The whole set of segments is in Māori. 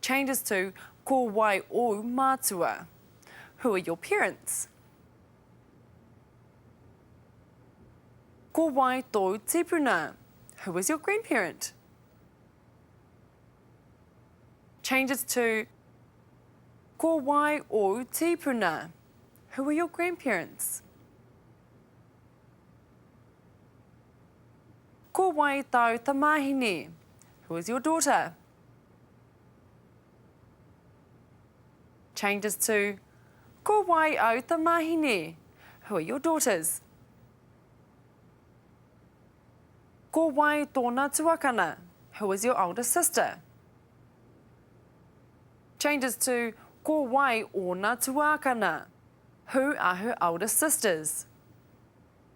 Changes to Ko wai ōu mātua? Who are your parents? Ko wai tōu tīpuna? Who is your grandparent? Changes to Ko wai ōu tīpuna? Who are your grandparents? Ko wai tāu tamāhine? Who is your daughter? Changes to Ko wai au tamahine? Who are your daughters? Ko wai tōna tuakana? Who is your older sister? Changes to Ko wai ōna tuākana? Who are her older sisters?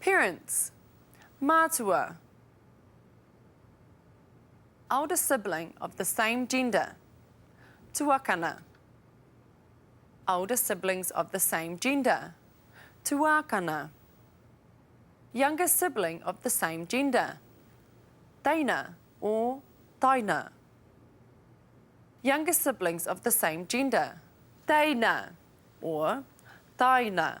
Parents Mātua Elder sibling of the same gender Tuakana Elder siblings of the same gender Tuākana Younger sibling of the same gender Teina or Taina Younger siblings of the same gender Teina or Taina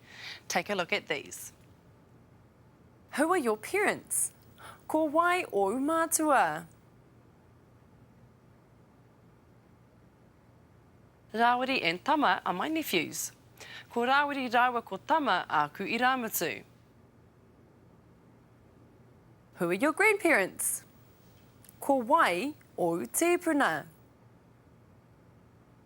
Take a look at these. Who are your parents? Ko wai ōu mātua? Rāwiri and Tama are my nephews. Ko Rāwiri rāua ko Tama āku irāmutu. Who are your grandparents? Ko wai ōu tīpuna?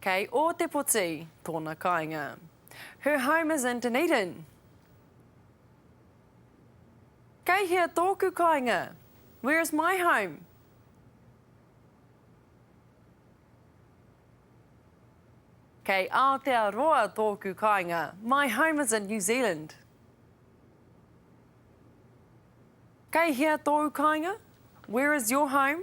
Kei Ōtepoti tōna kāinga. Her home is in Dunedin. Kei hea tōku kāinga? Where is my home? Kei Aotearoa tōku kāinga. My home is in New Zealand. Kei hea tōu kāinga? Where is your home?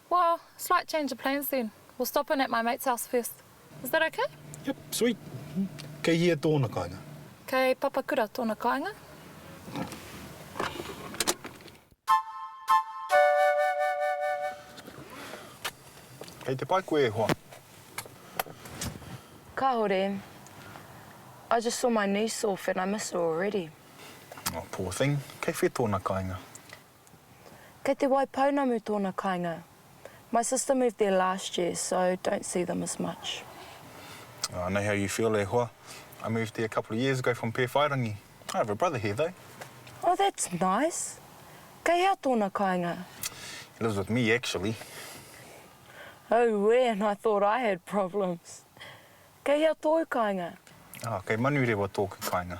Well, slight change of plans then. We'll stop in at my mate's house first. Is that okay? Yep, sweet. Kei hia tōna kāinga? Kei Papakura tōna kāinga. Kei te pai koe e hoa? Kāore. I just saw my niece off and I miss her already. Oh, poor thing. Kei whē tōna kāinga? Kei te wai pounamu tōna kainga. My sister moved there last year so don't see them as much. I know how you feel e hoa. I moved there a couple of years ago from Pēwhairangi. I have a brother here though. Oh that's nice. Kei hea tōna kainga? He lives with me actually. Auē and I thought I had problems. Kei hea tōu kainga? Oh kei Manurewa tōku kainga.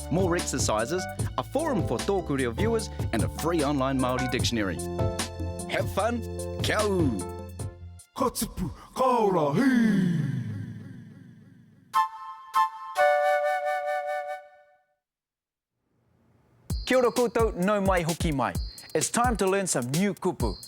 More exercises, a forum for Tōku Reo viewers and a free online Māori dictionary. Have fun! Kia ū! Ka tipu, ka ora, hī! Kia ora koutou, nau mai hoki mai. It's time to learn some new kupu.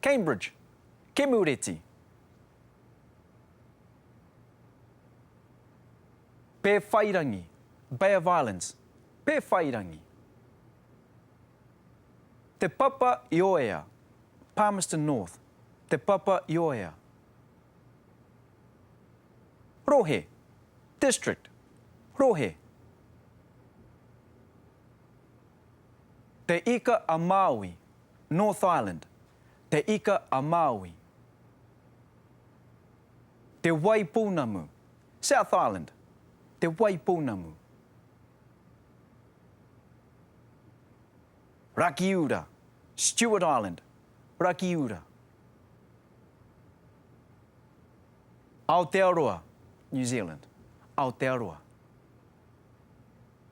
Cambridge, Kemureti. Pēwhairangi, Bay of Islands, Pēwhairangi. Te Papa i Oea, Palmerston North, Te Papa i Oea. Rohe, District, Rohe. Te Ika a Māui, North Island, Te Ika a Māui. Te Wai Pounamu, South Island, Te Wai Pounamu. Rakiura, Stewart Island, Rakiura. Aotearoa, New Zealand, Aotearoa.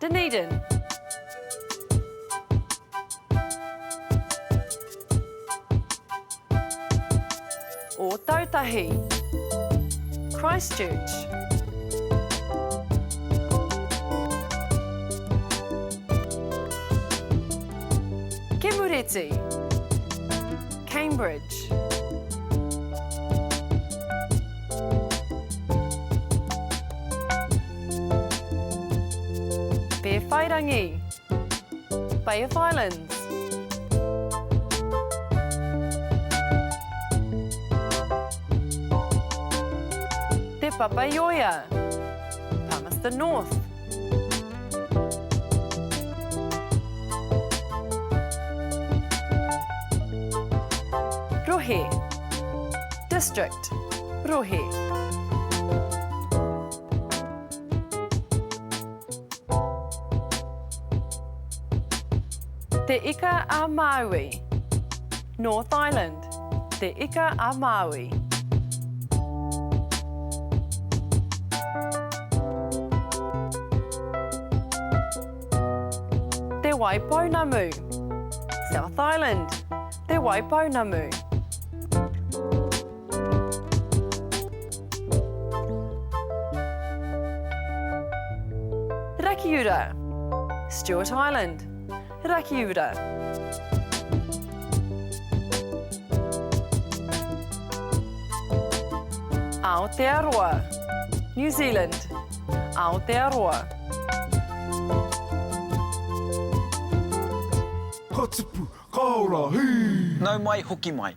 Dunedin. Ōtautahi. Christchurch. Kemureti. Cambridge. Pēwhairangi Bay of Islands Te Papaioea Palmerston North Rohe District Rohe Te Ika a Māui North Island Te Ika a Māui Te Wai Pounamu South Island Te Wai Pounamu Rakiura, Stewart Island, Rakiura. Aotearoa, New Zealand, Aotearoa. Ka tipu, ka ora, hī! Nau mai, hoki mai.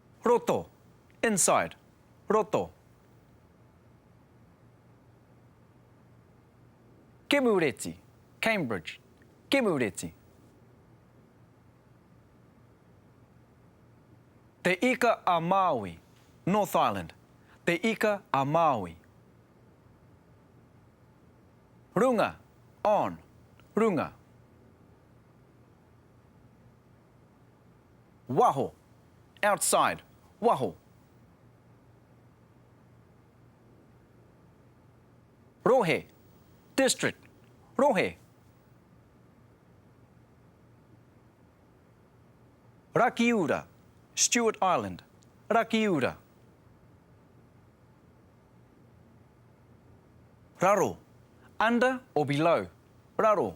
Roto, inside, roto. Kemureti, Cambridge, Kemureti. Te Ika a Māui, North Island, Te Ika a Māui. Runga, on, runga. Waho, outside, waho. Rohe, district, rohe. Rakiura, Stewart Island, Rakiura. Raro, under or below, raro.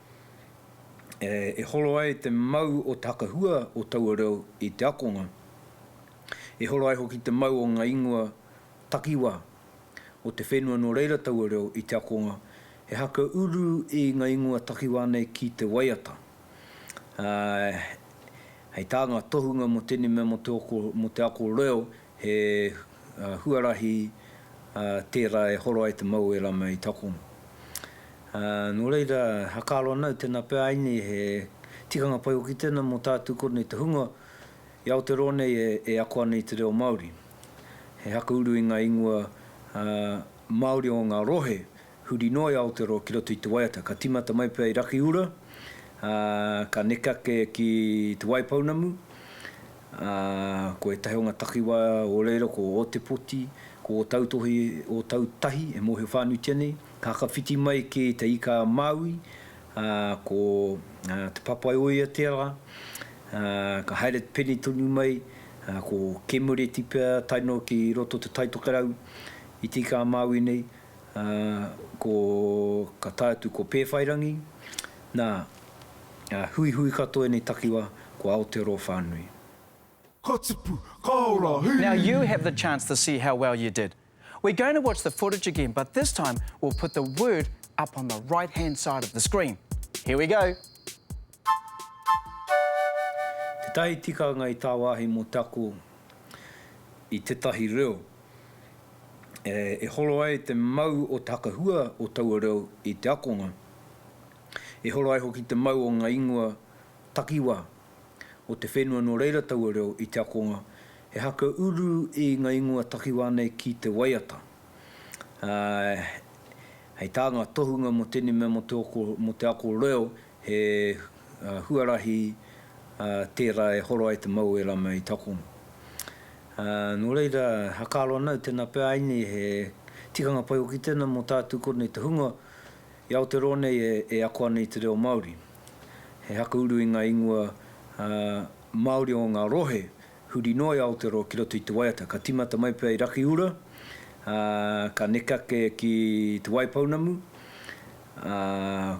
e horo ai te mau o te hakahua o taua reo i te akonga, e horo ai hoki te mau o ngā ingoa takiwā o te whenua nō reira taua reo i te akonga, he haka uru i ngā ingoa takiwā nei ki te waiata. Ā, hei tā ngā tohunga mō tēnei mea mō te ako reo, He huarahi tērā e horo ai te mau o ērā mei takono. Nō reira, hakaaro ana au tēnā pea ai nei he tikanga pai hoki tēnā mō tātou kōrnei te hunga i Aoteroa nei e ako ana i te reo Māori. He hakauru i ngā ingoa Māori o ngā rohe Huri noa i Aotearoa ki roto i te waiata, ka tīmata mai pea i Rakiura, ā, ka neke ake ki Te Waipounamu, ā, ko ētahi o ngā takiwā o reira ko Ōtepoti, ko Ōtautohi, Ōtautahi e mōhio whānuitia nei, ka hakawhiti mai ki Te Ika-a-Māui, ā, ko Te Papaioiateara, ā, ka haere peni tonu mai, ā, ko Kēmureti pea tae noa ki roto o Te Taitokerau i Te Ika-a-Māui nei, Ā, ko, ka tae atu ko Pēwhairangi, nā, ā, huihui katoa ēnei takiwā, ko Aotearoa whānui. Ka tipu, ka ora, hī! Now you have the chance to see how well you did. We're going to watch the footage again but this time we'll put the word up on the right hand side of the screen. Here we go! Tētahi tikanga i tāwāhi mō te ako i tētahi reo e horo ai te mau o te hakahua o taua reo i te akonga, e horo ai hoki te mau o ngā ingoa takiwā o te whenua nō reira taua reo i te akonga, he haka uru i ngā ingoa takiwā nei ki te waiata. Hei tā ngā tohunga mō tēnei mea mō te ako reo, He huarahi tērā e horo ai te mau o ērā mei takono. Nō reira, hakaro ana au tēnā pea ai nei he tikanga pai hoki tēnā mō tātou kōnei te hunga i Aoteroa nei e ako ana i te reo Māori. He hakauru i ngā ingoa Māori o ngā rohe Huri noa i Aotearoa ki roto i te waiata, ka tīmata mai pea i Rakiura, ā, ka neke ake ki Te Waipounamu, ā,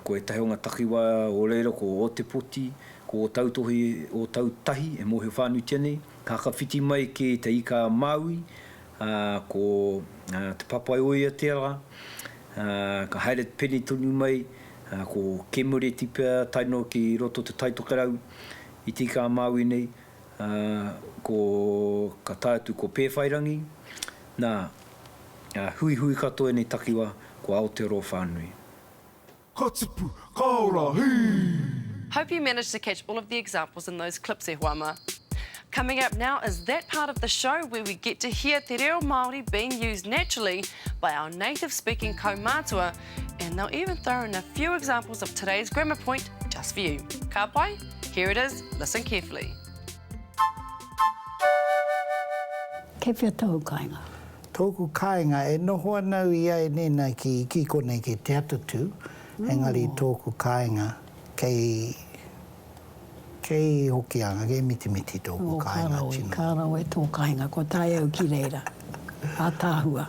ko ētahi o ngā takiwā o reira ko Ōtepoti, ko Ōtautohi, Ōtautahi e mōhio whānuitia nei, ka hakawhiti mai ki Te Ika-a-Māui, ā, ko Te Papaioiateara, ā, ka haere peni tonu mai, ā, ko Kēmureti pea tae noa ki roto o Te Taitokerau i Te Ika-a-Māui nei, Ā, ko, ka tae atu ko Pēwhairangi, nā, ā, huihui katoa ēnei takiwā, ko Aotearoa whānui. Ka tipu, ka ora, hī! Hope you managed to catch all of the examples in those clips e hoa mā. Coming up now is that part of the show where we get to hear te reo Māori being used naturally by our native speaking kaumātua And they'll even throw in a few examples of today's grammar point just for you. Ka pai? Here it is, listen carefully. Kei whea tōu kāinga? Tōku kāinga, e noho ana au i a e nēnā ki, ki konei ki Te Atatū, engari tōku kāinga kei, kei Hokianga, kei Mitimiti tōku oh, kāinga karawe, tino. Karawe tō kāinga, ko tae au ki reira, ātāhua.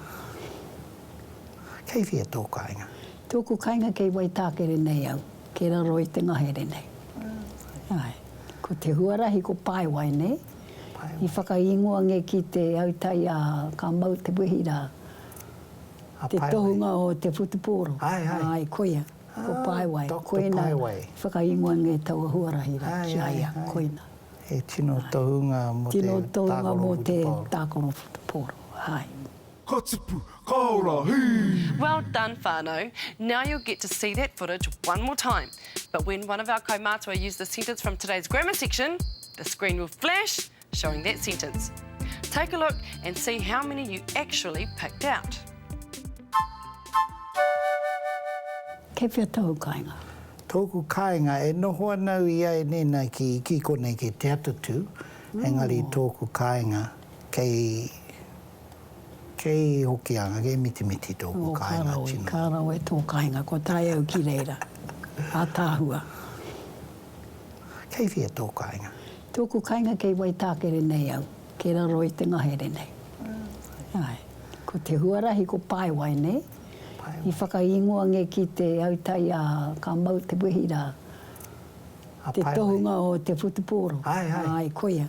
Kei whea tō kāinga? Tōku kāinga kei Waitākere nei au, kei raro i te ngahere nei. Āe. Ko te huarahi ko Paewae nei. Paewae. I whakaingoa nge ki te autai a ka mau te wehi rā. A Paewae. Te tohunga o te whutupōro. Āe, āe. Āe, koia. Ā. Ko Paewae. Doctor Paewae. Koina i whakaingoa nge taua huarahi rā ki a ia. Āe, āe. Koina. He tino tohunga mō te tākaro whutupōro. Tino tohunga mō te tākaro whutupōro. Āe. Ka tipu, ka ora, hii! Well done whanau, now you'll get to see that footage one more time but when one of our kaumātua use the sentence from today's grammar section, the screen will flash showing that sentence. Take a look and see how many you actually picked out. Kei whea tōu kāinga? Tōku kāinga, e noho ana au i a Enena ki, ki konei, ki Te Atatū, engari tōku kāinga kei. Kei Hokianga, kei Mitimiti tōku kāinga tino. Nō, ka rawe, ka rawe tō kāinga, kua tae au ki reira. Ātaahua. Kei whia tō kāinga? Tōku kāinga kei Waitākere nei au, kei raro i te ngahere nei. Āe. Ko te huarahi ko Paewai nei. Paewai. I whakaingoa nge ki te autai a ka mau te wehi rā. A Paewai. Te tohunga o te whutupōro. Āe, āe. Āe, koia.